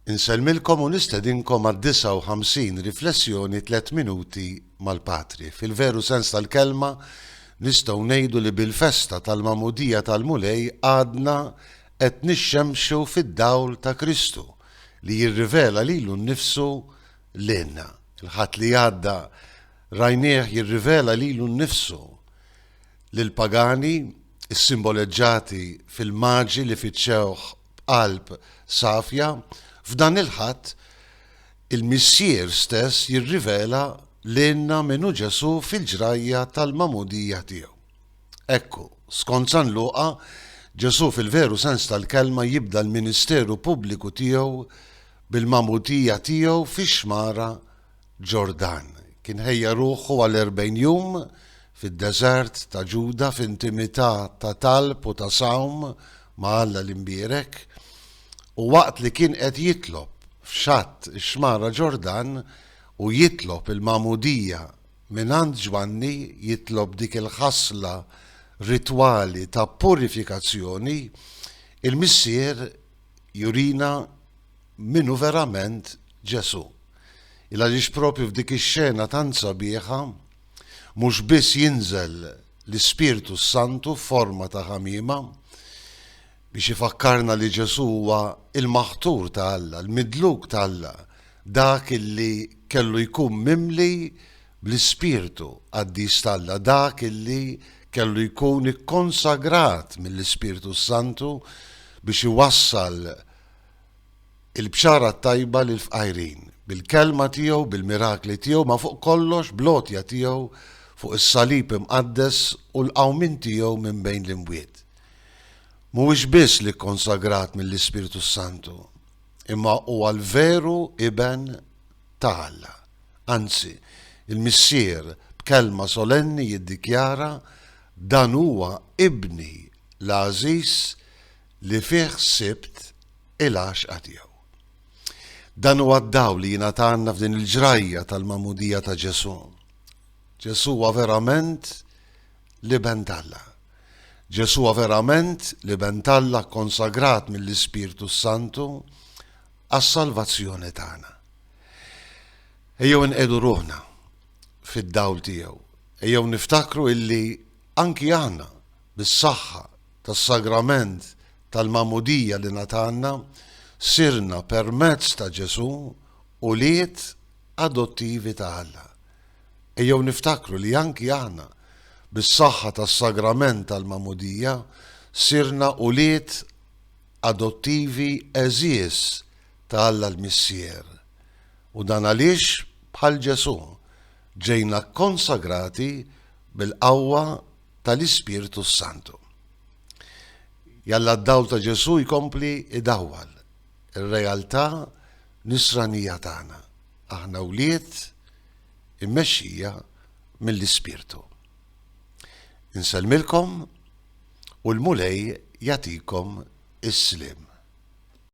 Insellmilkom u nistedinkom għad-59 Riflessjoni Tliet Minuti mal-Patri. Fil-veru sens tal-kelma, nistgħu ngħidu li bil-festa tal-Magħmudija tal-Mulej għadna qed nixxemxu fid-dawl ta' Kristu li jirrivela lilu nnifsu lilna. Il-Ħadd li għadda rajnieh jirrivela lilu nnifsu lill-pagani, issimboleġġati fil-maġi li fittxewh b'qalb safja, f'dan il-Ħadd, il-Missier stess jirrivela lilna min hu Ġesù fil-ġrajja tal-magħmudija tiegħu. Ekku, skont San Luqa, Ġesù fil-veru sens tal-kelma jibda l-ministeru pubbliku tiegħu bil-magħmudija tiegħu fix-xmara Ġordan. Kien ħejja ruħu għal erbgħin jum fid-deżert ta' Ġuda f'intimità ta' talb u ta' sawm ma' Alla l-Imbierek, u waqt li kien qed jitlob f'xatt ix-xmara Ġordan u jitlob il-magħmudija mingħand Ġwanni, jitlob dik il-ħasla ritwali ta' purifikazzjoni, il-Missier jurina, min hu verament Ġesù. Il għaliex propju f'dik ix-xena tant sabiħa mhux biss jinżel l-Ispirtu s-Santu f'forma ta' ħamiema biex ifakkarna li Ġesù huwa il-maħtur ta' Alla, l-midluk ta' Alla, dak illi kellu jkun mimli bl-Ispirtu qaddis ta' Alla, dak illi kellu jkun ikkonsagrat mill-Ispirtu s-Santu biex iwassal il-bxara t-tajba lill-fqajrin, bil-Kelma tiegħu, bil-mirakli tiegħu, ma fuq kollox bl-għotja tiegħu fuq is-salib imqaddes u l-qawmien tiegħu minn bejn l-imwiet. Mhuwiex biss l-Ikkonsagrat mill-Ispirtu s-Santu, imma huwa l-veru Iben ta' Alla. Anzi, il-Missier b'kelma solenni jiddikjara, Dan huwa Ibni l-għażiż li fih sibt il-għaxqa tiegħu. Dan huwa d-dawl li jingħatanna f'din il-ġrajja tal-magħmudija ta' Ġesù. Ġesù huwa verament l-Iben t'Alla. Ġesù huwa verament l-Iben t'Alla konsagrat mill-Ispirtu s-Santu għas-salvazzjoni tagħna. Ejjew inqedu ruħna fid-dawl tiegħu. Ejjew niftakru illi anki aħna bis-saħħa tas-Sagrament tal-Magħmudija li ngħatalna, sirna permezz ta' Ġesù ulied adottivi ta' Alla. Ejjew niftakru li anki aħna, bis-saħħa tas-Sagrament tal-Magħmudija, sirna ulied adottivi għeżież ta' Alla l-Missier. U dan għaliex, bħal Ġesù, ġejna kkonsagrati bil-qawwa tal-Ispirtu s-Santu. Jalla d-dawl ta' Ġesu jkompli idawwal ir-realtà nisranija tagħna, aħna wlied immexxija mill-Ispirtu. Insellmilkom u l-Mulej jagħtikom is-sliem.